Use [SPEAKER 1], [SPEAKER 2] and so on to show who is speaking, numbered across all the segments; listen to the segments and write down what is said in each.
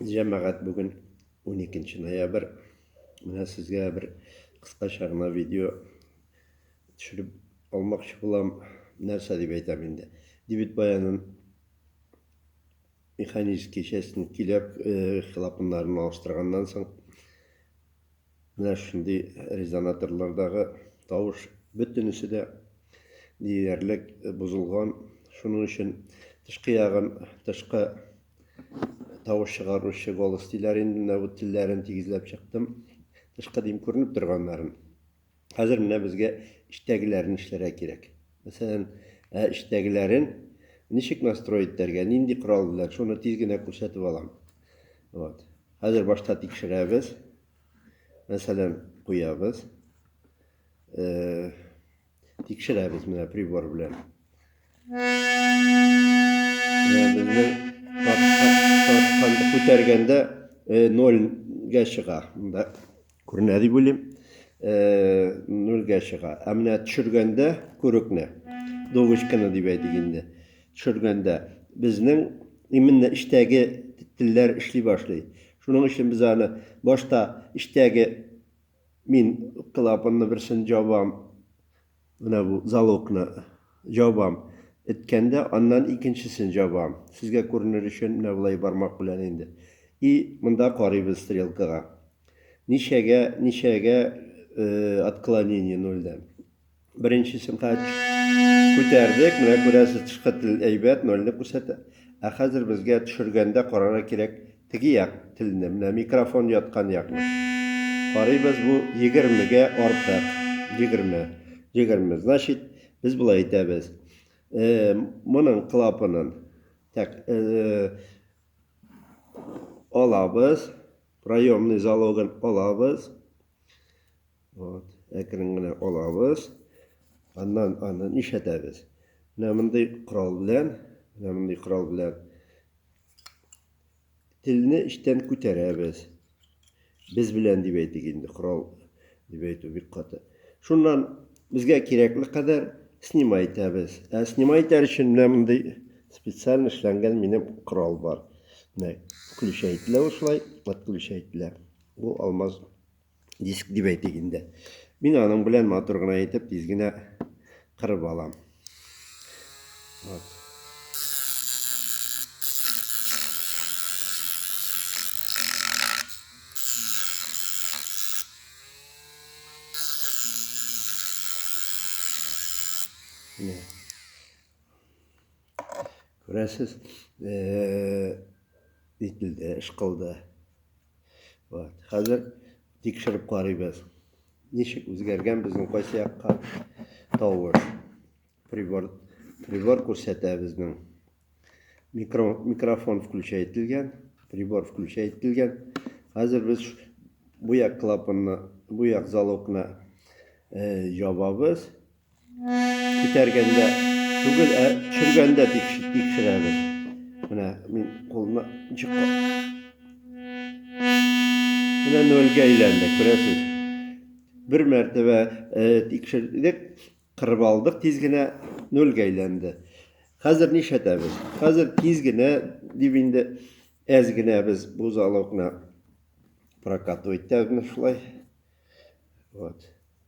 [SPEAKER 1] Җәмәгать бүген 12 ноябрь. Менә сезгә бер кыскача гына видео төшереп алмакчы булам. Нәрсә дип әйтәм инде. Дебет баянын механический частен киләп, э, хилапыннарын алыштырганнан соң Менә шундый резонаторлардагы тавыш бөтенесе дә диярлек бозылган. Шуның өчен тышкы ягын тышкы тавыш чыгаручы голос диләр инде. Менә бу телләрен тигезләп чыктым. Тышкы дим күренеп торганнарын. Хәзер менә безгә эчтәгеләрен эшләргә кирәк. Мәсәлән, ә эчтәгеләрен ничек настроить итәргә, нинди корал белән, шуны тиз генә күрсәтеп алам. Вот. Хәзер башта тикшерәбез. Мәсәлән, куябыз. Э, тикшерәбез менә прибор белән. күтәргәндә э, нольгә чыга монда күренә дип уйлыйм э, нольгә чыга ә менә төшергәндә күрекне дубочканы дип әйтик инде төшергәндә безнең именно эчтәге телләр эшли башлый шуның өчен без аны башта эчтәге мин клапанны берсен жабам Менә бу залогны җабам. Эткәндә, аннан икенчесен җабам. Сезгә күренер өчен менә болай бармак белән инде. И монда карыйбыз стрелкага. Ничәгә, ничәгә отклонение нольдән. Беренчесен күтәрдек, менә күрәсез, тышкы тел әйбәт, нольне күрсәтә. Ә хәзер безгә төшергәндә карарга кирәк, Теге як телне, менә микрофон яткан якны карыйбыз, бу егермегә артык. Егерме. Егерме. Значит, без болай әйтәбез. Э, моның клапанын так, э, алабыз, проемный залогын алабыз. Вот, әкрен генә алабыз. Аннан аны нишләтәбез? Менә мондый корал белән, менә мондый корал белән Телне эчтән күтәрәбез. Без белән дип әйтик инде, корал дип әйтү бик каты. Шуннан безгә кирәкле кадәр снимай итәбез. Ә снимай итәр өчен менә мондый специаль эшләнгән минем корал бар. Менә включай ителә шулай, отключай ителә. Бу алмаз диск дип әйтик инде. Мин аның белән матур гына итеп тиз генә кырып алам. Вот. Менә. Күрәсез, э, ителде, эш кылды. Вот. Хәзер тикшереп карыйбыз. Ничек үзгәргән безнең кайсы якка тавыш. Прибор, прибор күрсәтә безнең. Микро, микрофон включай ителгән, прибор включай ителгән. Хәзер без бу як клапанны, бу як залогны э, ябабыз. Күтәргәндә түгел, ә төшергәндә тикшерәбез. Менә мин кулны чыккан. Менә нольгә әйләнде, күрәсез. Бер мәртәбә тикшердек, кырып алдык тиз генә, нольгә әйләнде. Хәзер нишләтәбез? Хәзер тиз генә дип инде әз генә без бу залогны прокатывать итәбез шулай. Вот.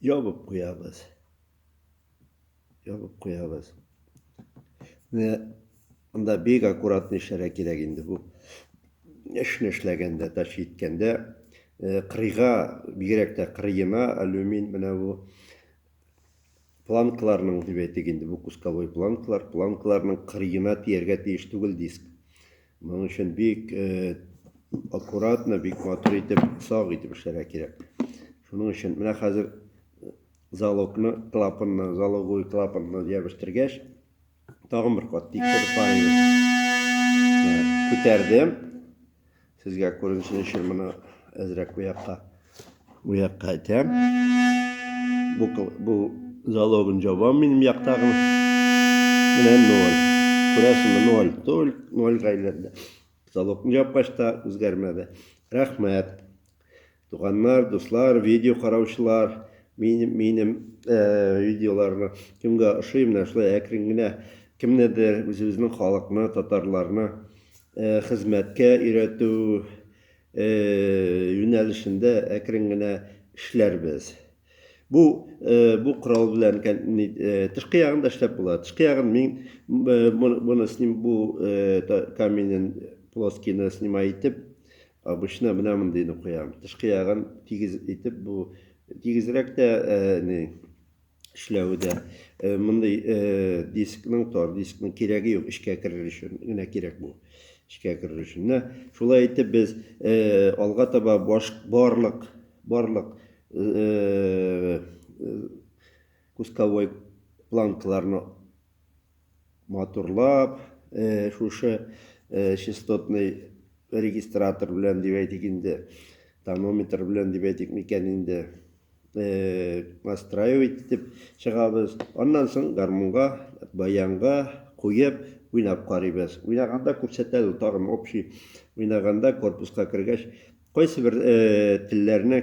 [SPEAKER 1] ябып куябыз. Ябып куябыз. Менә анда бик аккуратный эшләргә кирәк инде бу. Эшне эшләгәндә, тач җиткәндә, э, кырыйга, бигрәк тә кырыена алюмин менә бу планкаларның дип әйтик инде, бу кусковой планкалар, планкаларның кырыена тияргә тиеш түгел диск. Моның өчен бик аккуратно, бик матур итеп, сак итеп эшләргә кирәк. Шуның өчен менә хәзер залогны, клапанны, залоговый клапанны ябештергәч, тагын бер кат тикшереп карыйбыз. Күтәрдем. Сезгә күренсен өчен моны әзрәк бу якка Бу якка әйтәм. Бу, бу залогын җабам минем яктагы. Менә ноль. Күрәсеңме, ноль. Тол, ноль гайләрдә. Залогын җапкач та үзгәрмәде. Рәхмәт. Туганнар, дуслар, видео караучылар, минем, минем э, видеоларны кемгә ошый, менә шулай әкрен генә кемнедер үзебезнең халыкны, татарларны э, хезмәткә өйрәтү юнәлешендә әкрен генә эшләрбез. Бу бу корал белән тышкы ягын да эшләп була. Тышкы ягын мин моны сним бу каменен плоскины снимай итеп обычно менә мондыйны куям. Тышкы ягын тигез итеп бу тигезрәк тә не эшләве дә э, мондый э, дискның тар дискның кирәге юк эшкә керер өчен генә кирәк бу эшкә керер өчен менә шулай итеп без э, алга таба баш барлык барлык кусковой планкаларны матурлап э, шушы э, частотный регистратор белән дип әйтик инде тонометр белән дип әйтик микән инде э, настраивать итеп чыгабыз аннан соң гармунга баянга куеп уйнап карыйбыз уйнаганда күрсәтәбез тагын общий уйнаганда корпуска кергәч кайсы бер э, телләрне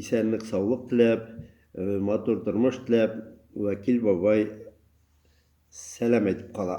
[SPEAKER 1] Исәнлек саулык теләп, матур тормыш теләп, Вәкил бабай сәлам әйтеп кала.